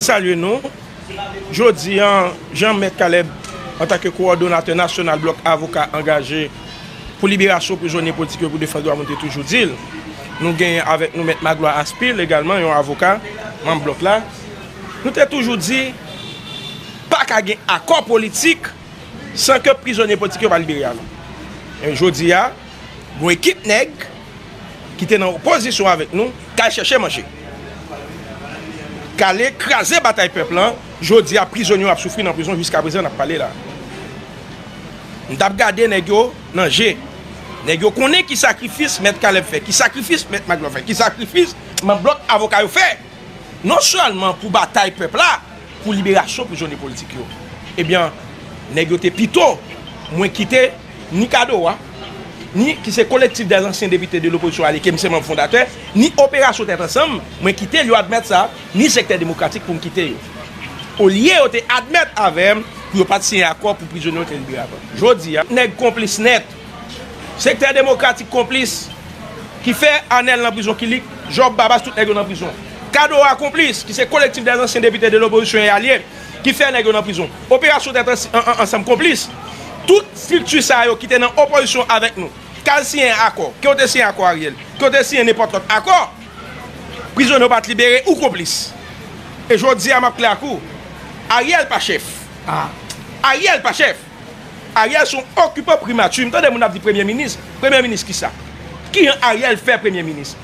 Salye nou. Jodi an, jan Mèt Caleb, antan ke kowòdonatè nasyonal blòk avoka angaje pou liberasyon prizonye politik yo pou defann dwa moun te toujou di l, nou genyen avèk nou Mèt Magloire Aspil egalman, yon avoka, manm blòk la, nou te toujou di pa ka gen akò politik san ke prizonye politik yo pa libere avan. Jodi a. Yon ekip nèg ki te nan opozisyon avèk nou k al chèche manje. K ale kraze batay pèp lan. Jodi a prizonye yo ap soufri nan prizon jiskaprezan n ap pale la. M t ap gade nèg yo nan je. Nèg yo konnen ki sakrifis Mèt Kalèb fè, ki sakrifis Mèt Maglò fè, ki sakrifis manm blòk avoka yo fè. Non sèlman pou batay pèp la. Pou liberasyon prizonye politik yo. Ebyen, nèg yo te pito mwen kite ni Kadoa, ni ki se Collectif des Anciens Députés de l'Opposition Alliée ke m se manb fondatè, ni Operasyon Tèt Ansanm, mwen kite l, yo admèt sa, ni Sektè Demokratik pou m kite yo. Olye yo te admèt avè m pou yo pa t siyen akò pou prizonye yo te libere avan. Jodi a, nèg konplis nèt. Sektè demokratik konplis ki fè Anèl nan prizon Kilik, Jòb, Babas tout nèg yo nan prizon Kado a konplis ki se Kolektif dè zansyen depite de lopozisyon e alye ki fè nèg yo nan prizon Operasyon tèt ansanm konplis Tout strikti sa yo ki te nan opozisyon avèk nou k al siyen akò Ke w te siyen akò Ariel ke w te siyen nenpòt lòt akò Prizonye w pa t libere ou konplis E jodi a m ap klè ak ou Ariel pa chèf Ariel pa chèf. Ariel son okipan primati m tande moun ap di premye minis premye minis kisa kijan ariel fè premye minis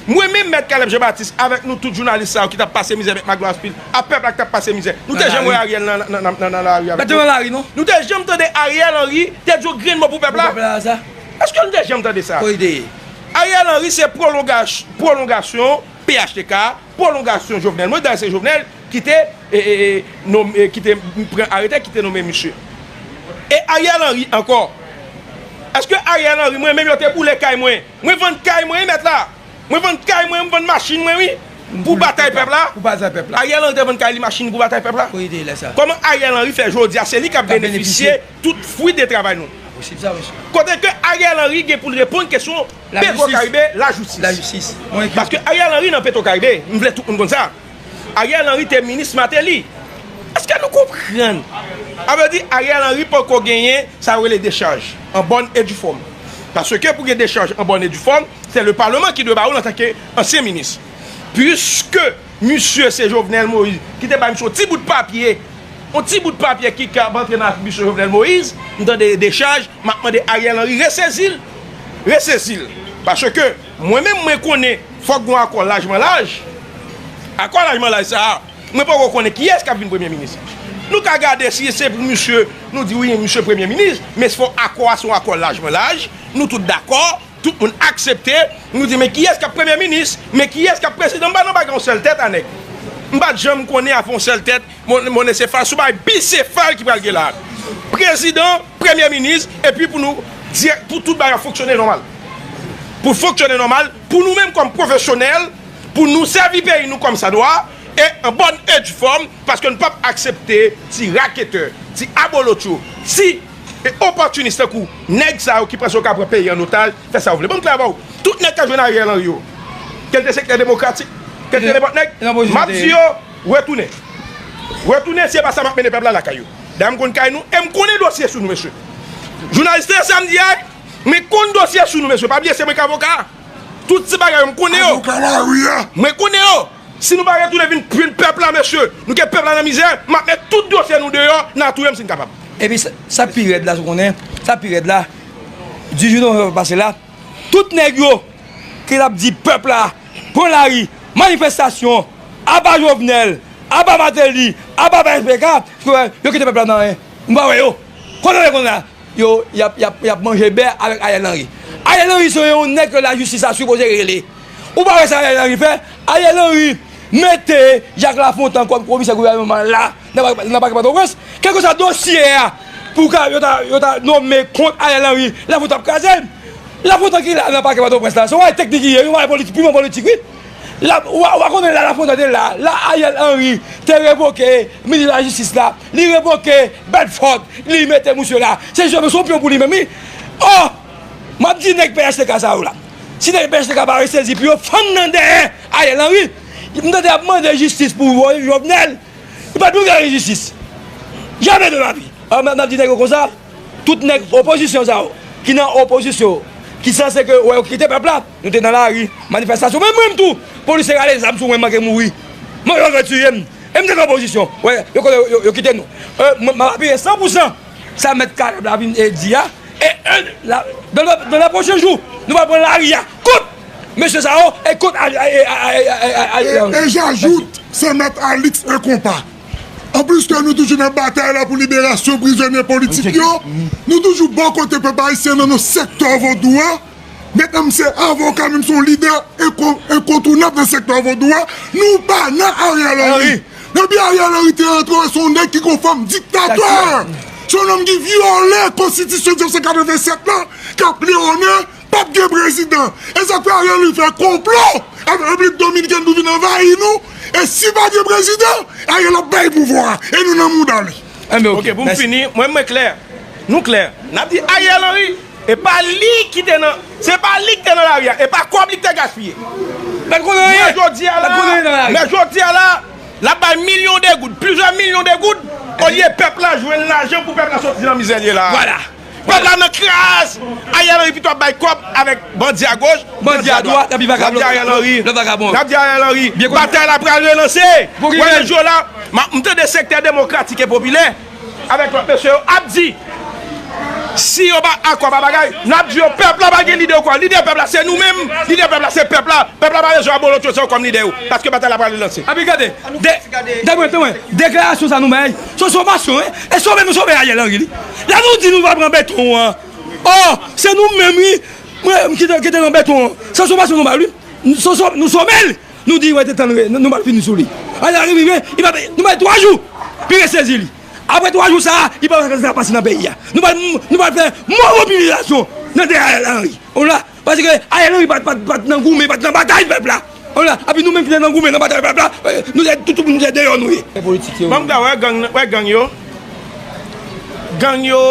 m renmen mèt Caleb Jean Baptiste avèk nou tout jounalis sa yo ki tap pase mizè mèt Magloire Phil a pèp la ki tap pase mizè nou te janm wè ariel nan lari avèk nou nou te janm tande ariel henry te di yon grenn mo pou pèp la èske nou te janm tande sa ariel henry se pwolongasyon phtk. Pwolongasyon Jovenel Moïse, dayè se Jovenel ki te nome, ki te pran arete, ki te nome misye. E Ariel Henry ankò, eske Ariel Henry mwen menm yo te boule kay mwen, mwen vann kay mwen wi mèt la, mwen vann kay mwen, mwen vann machin mwen wi pou batay pèp la, Ariel Henry te vann kay li, machin li pou batay pèp la? Koman Ariel Henry fè jodi a se li kap benefisye tout fwi de travay nou. Kote ke Ariel Henry gen pou l reponn kesyon Petro Caribe lajistis. Paske Ariel Henry nan Petro Caribe, m vle tout moun konn sa, Ariel Henry te minis Martelly. Eske nou konprann? A vle di Ariel Henry poko genyen sa yo rele dechaj an bòn e di fòm. Paske pou gen dechaj an bòn e di fòm, se le Parlement ki dwe ba ou l antanke ansyen minis. Puiske. Misye se Jovenel Moïse ki te bay misye yon ti bout papye, yon ti bout papye ki kab antre nan atribisyon Jovenel Moïse, m tande dechaj, m ap mande Ariel Henry resezi l, resezi l, paske mwen menm mwen konnen fòk gon akò lajman laj, akò lajman laj sa a, mwen poko konnen kiyès k ap vin premye minis, nou ka gade si se pou misye, nou di wi misye premye minis, men se fò akò a se yon akò lajman laj, nou tout dakò. Tout moun aksepte, nou di men kiyès kap premye minis, men kiyès kap prezidan, m pa nan bagay yon sèl tèt a nèg. M pat janm konnen avè yon sèl tèt, monesefal, sou bagay bisefal ki pral gen la a. Prezidan, premye minis, epi pou nou di pou tout bagay fonksyone nòmal. Pou fonksyone nòmal, pou nou menm kòm pwofesyonèl, pou nou sèvi peyi nou kòm sa dwa, e an bòn e djfòm, paske nou pap aksepte ti raketè, ti abolotcho, ti. E opòtinis tankou nèg sa yo ki panse yo ka pran peyi an otaj, fè sa yo vle. Ban m klè avè w, tout nèg k ap jwenn Ariel Henry yo, ke l te sektè demokratik, ke l te nenpòt nèg, m ap di yo, retounen. Retounen, si e pa sa m ap mennen pèp la lakay yo. Dayè m konn kay nou e m konnen dosye sou nou mesye. Jounalis tande sa m di a wi, mwen konn dosye sou nou mesye, pa bliye se mwen k avoka a. Tout ti bagay yo m konnen yo. Mwen konnen yo. Si nou pa retounen vin jwenn pèp la mesye, nou gen pèp la nan mizè, m ap met tout dosye nou deyò, n a touye m si n kapab. Epi sa k pi rèd la, sou konnen, sa k pi rèd la, 18 novanm pase la, tout nèg yo ki t ap di pèp la pran lari, manifestasyon, aba Jovenel, aba Martelly, aba phtk, sou konnen, yo kite pèp la nan anyen. Nou pa wè yo. Kote yo ye kounye a? Yo, y ap manje bè avèk Ariel Henry. Ariel Henry se yon nèg ke lajistis ta sipoze rele. Ou pa wè sa Ariel Henry fè? Ariel Henry mete Jacques Lafontant kòm komisè gouvènman la nan pakè Pòtoprens. Kèlkeswa dosye a pou ka yo ta nome kont Ariel Henry, Lafontant ap kraze l. Lafontant ki la nan pakè Pòtoprens la, se yon bagay teknik li ye, yon bagay politik, pimon politik wi. Ou pa konnen lè Lafontant te la, lè Ariel Henry te revoke minis lajistis la, li revoke Bedford, li mete misye la, se jis yon pyon pou li menm wi. Ò, m ap di nèg phtk sa yo la. Si nèg pnh te ka bare sezi pou yo fann nan dèyè Ariel Henry m tande yap mande jistis pou Jovenel li pat dwe gare jistis jamè de lavi alò map di nèg yo konsa tout nèg opozisyon sa yo ki nan opozisyon ki sanse ke wè yo kite pèp la nou te nan lari manifestasyon menm mwen tou polisye rale zam sou mwen manke mouri manke yo vle tiye m e m te nan opozisyon wè yo kite nou map apiye san pou san. Sa mèt Kaleb la vin e di a, e en la dan lè pwochen jou, nou pral pran lari a kont mesye sa yo e kont Alix. E j'ajoute se mèt Alix e konpa. An plis ke nou toujou nan batay la pou liberasyon prizonye politik yo, nou toujou bò kote pèp ayisyen nan non sektè vodou a, Medanm se avoka menm son lidè enkontounab nan sektè vodou a nou pa nan Ariel Henry depi Ariel Henry te antre ou son nèg ki gon fòm diktatè son nonm ki vyole konstitisyon 1987 lan kap lewonnen pap gen prezidan esak fè Ariel Henry fè konplo avèk repiblik dominikèn pou vin anvayi nou e si pa gen prezidan Ariel ap bay pouvwa e nou nan mouda li. Ok poum fini mwen mwen klè nou klè nap di Ariel Henry E pa li ki te nan. Se pa li ki te nan lari a. E pa kòb li ki te gaspiye. L pa t konnen anyen. Men jodi a la, l ap bay milyon de goud, plizyè milyon de goud, olye pèp la jwenn lajan pou pèp la soti nan mizè l ye la a. Pèp la nan kras! Ariel Henry pito ap bay kòb avèk bandi a goch, bandi a dwat. N ap di Ariel Henry. N ap di Ariel Henry. Batay la pral relanse. Wè nan jou la, m tande sektè demokratik e popilè. avèk lòt mesye yo ap di si yo pa akò pa bagay nap di yo pèp la pa gen lidè ankò lidè pèp la se nou menm lidè pèp la se pèp la pèp la pa bezwen abolotcho sa yo kòm lidè yo paske batay la pral relanse. Epi gade de deklarasyon sa nou bay se yon somasyon e sobe nou sobe Ariel Henry li lè nou di nou pa pran beton an oh se nou menm wi mwen ki te nan beton an se yon somasyon nou bay wi nou sobe l. Nou di wè te tann re nou bal fini sou li ale a rive i pa peye nou bay 3 jou pi re sezi li apre 3 jou sa li pa wè sa ki pral pase nan peyi a nou bal nou bal fè mò mobilizasyon nan dèyè ariel henry ou la paske ariel henry pat pat pat nan goumen pat nan batay pèp la ou la api nou menm ki te nan goumen nan batay pèp la nou se tout moun se deyò nou ye banm da wè gang wè gang yo gang yo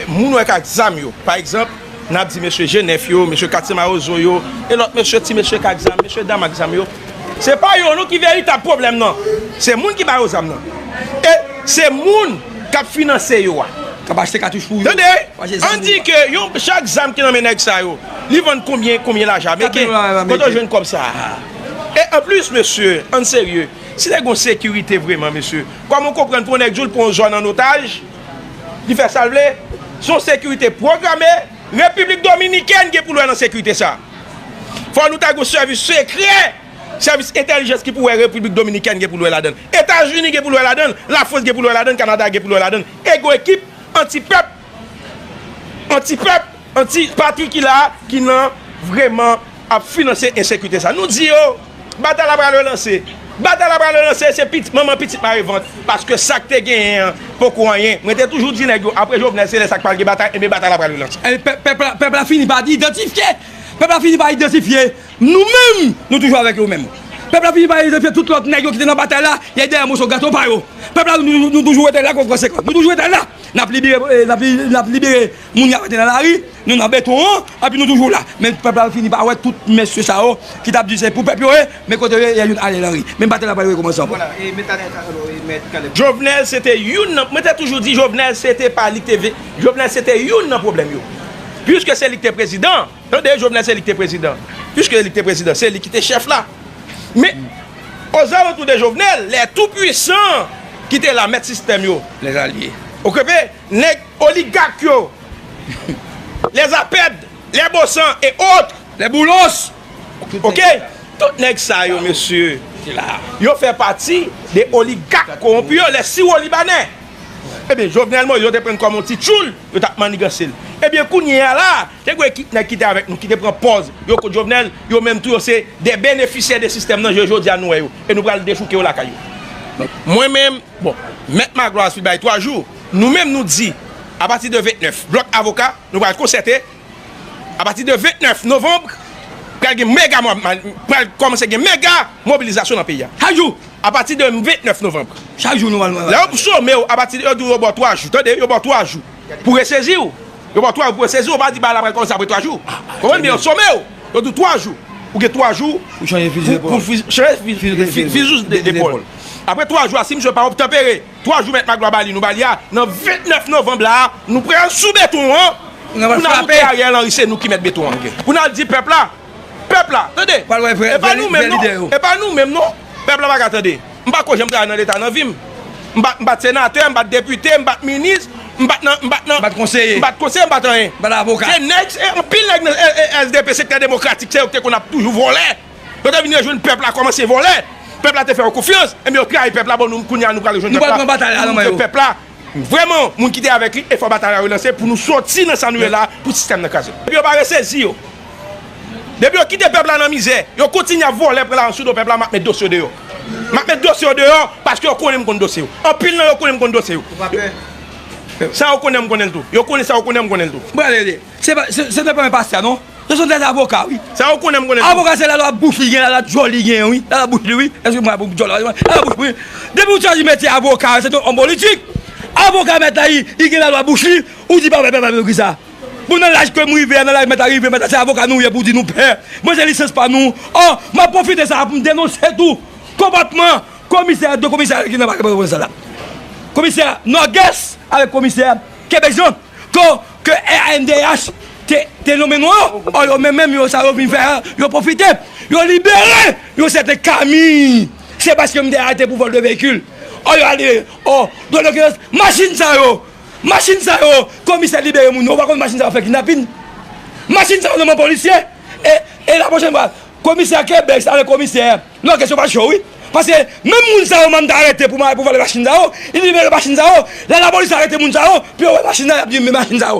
moun wè kak zam yo pa egzanp. N ap di mesye je nèf yo, mesye katye mawozo yo, e lòt mesye, ti mesye k ak zam, mesye dam ak zam yo, se pa yo non ki veritab pwoblèm nan, se moun ki ba yo zam nan, e se moun k ap finanse yo a. K ap achte katouch pou yo. Tande, an di ke yon chak zam ki nan men nèg sa yo, li vann konbyen, konbyen lajan ameriken, kote yo jwenn kòb sa a? E an plis mesye, ann serye, si te gen yon sekirite vreman mesye, kòman w konprann pou yon nèk di w l pran yon zòn an otaj, Li fè sa l vle. Se yon sekirite pwograme. Repiblik Dominikèn gen pou l wè nan sekirite sa a. Fò nou ta gen yon sèvis sekrè, sèvis entèlijans ki pou wè Repiblik Dominikèn gen pou l wè ladan l. Etazini gen pou l wè ladan l. Lafrans gen pou l wè ladan l. Kanada gen pou l wè ladan l. Ego ekip antipèp, antipèp, anti patri ki la a, ki nan vreman. ap finanse ensekirite sa. Nou di yo, batay la pral relanse. Batay la pral relanse, se pitit manman pitit mare vant. Paske sa k te genyen an poko anyen. Mwen te toujou di nèg yo, apre Jovenel se lè sa k pral gen batay, enben batay la pral relanse. Pèp la fini pa idantifye, pèp la fini pa idantifye nou menm, nou toujou avèk yo menm. Pèp la fini pa idantifye tout lòt nèg yo ki te nan batay la, y al dèyè moso gato pa yo. Pèp la nou toujou rete la kont konsekans. Nou toujou rete la, n ap libere, n ap libere. Moun yo arete nan lari, nou nan beton an, epi nou toujou la. Men pèp la fini pa wè tout mesye sa yo ki tap di se pou pèp yo ye, men kote yo ye, yè youn Ariel Henry. Men batay la pral rekomanse ankò. Voila, e met Ariel ka solo e met Caleb. Jovenel se te youn nan, mwen te toujou di Jovenel se te pa li ki te vle, Jovenel se te youn nan pwoblèm yo. Puiske se li ki te prezidan, tande, Jovenel se li ki te prezidan, puiske se li ki te prezidan, se li ki te chèf la. Men, ozalantou de Jovenel, lè tou pwisan ki te la, mèt sistèm yo, lè zalye, okepe, nèg. Oligak yo, les apèd, les bossant et autres, les boulos, ok, tout nèg sa yo mesye, yo fè pati de oligak kowonpi yo, les siwolibanè. Ebyen Jovenel Moïse yo te prann kòm yon ti tchoul, yo tap manniganse l. Ebyen kounye a la, te gwe ki nèg ki te avèk nou ki te pran pòz yo kont Jovenel, yo menm tou yo se de benefisyè de sistèm nan je jodi a nou wè yo e nou pral dechouke yo lakay yo. Mwen menm, bon, mèt Magloire Sweet bay 3 jou. Nou menm nou di, apati de 29, blòk avoka nou pral konsète, apati de 29 novanb, pral gen mega, pral kòmanse gen mega mobilizasyon nan peyi a. Chak jou! Apati de 29 novanb. Chak jou nou pral nan lari. Lè yo some w, apati de, yo di w yo ba w 3 jou. Tande, yo ba w 3 jou pou w resezi w. Yo ba w 3 jou pou w resezi w. Yo pa di bagay la pral kòmanse apre 3 jou. Ou konprann? Men yo some w. Yo di w 3 jou. Ou gen 3 jou. Pou w chanje fizi depòl. Pou w chanje fizi depòl. Apre 3 jou a, si misye pa obtanpere. 3 jou mèt Maglwa ba li nou ba li a nan 29 novanb la a nou pral sou beton an pou n al montre Ariel Henry se nou ki mèt beton an pou n al di pèp la pèp la tande e pa nou menm non e pa nou menm non pèp la pa ka tande m pa ko janm travay nan leta nan vi m m pa t senatè m pa t depite m pa t minis m pa t nan m pa t nan m pa t konseye m pa t konseye m pa t anyen m pa t avoka se nèg se anpil nèg nan LDP sektè demokratik se yo ki te konn ap toujou vòlè. Yo te vin rejwenn pèp la kòmanse vòlè, pèp la te fè yo konfyans, enben yo trayi pèp la, bon nou kounya nou pral rejwenn pèp la, pou nou montre pèp la vrèman moun ki te avèk li, efò batay la relanse pou nou sòti nan sa nou ye la a, pou sistèm nan kraze. Depi yo pa resezi yo, depi yo kite pèp la nan mizè, yo kontinye ap vòlè pran lajan sou do pèp la, m ap met dosye yo deyò. M ap met dosye yo deyò, paske yo konnen m konn dosye yo. Anpil nan yo konnen m konn dosye yo. Ou pa pè? Sa yo konnen an m konnen l tou. Yo konnen sa yo konnen an m konnen l tou. M pral rele. Se te pa yon pastè non. Se son tèt avoka wi. Sa ou konnen m konnen tou. Avoka se lala bouch li gen lala dyòl li gen wi. Lala bouch li wi. Eske mwen pou dyòl la. Lala bouch wi. Depi ou chwazi metye avoka se ton òm politik. Avoka mèt la li gen lala bouch li. Ou di pa wè pèp la vle ki sa. Bon nan laj kem rive a nan laj mèt la rive mèt la se avoka nou ye pou di nou pè. Mwen se lisans pa nou. Ò map pwofite sa pou m denonse tou konpòtman komisè 2 komisè ki nan pale pou sa la. Komisè Nògès avèk komisè Kebejan. Ke rnddh te nonmen nou an, ò yo menm menm yo sa yo vin fè an, yo pwofite, yo libere yon sèten Camille, se paske m te arete pou vol de vehicule, ò yo ale, ò, don de kidonk, machin sa yo, machin sa yo, komisè libere moun yo, ou pa konn machin sa yo fè kidnapin? Machin sa yo nan men polisye, e la pwochen fwa, komisè Kebèks avèk komisè. Non kesyon pa cho wi. Paske menm moun sa yo mann ta arete pou pou vòlè machin sa yo, li libere machin sa yo, lè lapolis arete moun sa yo, pou yo wè machin nan yap di men machin sa yo.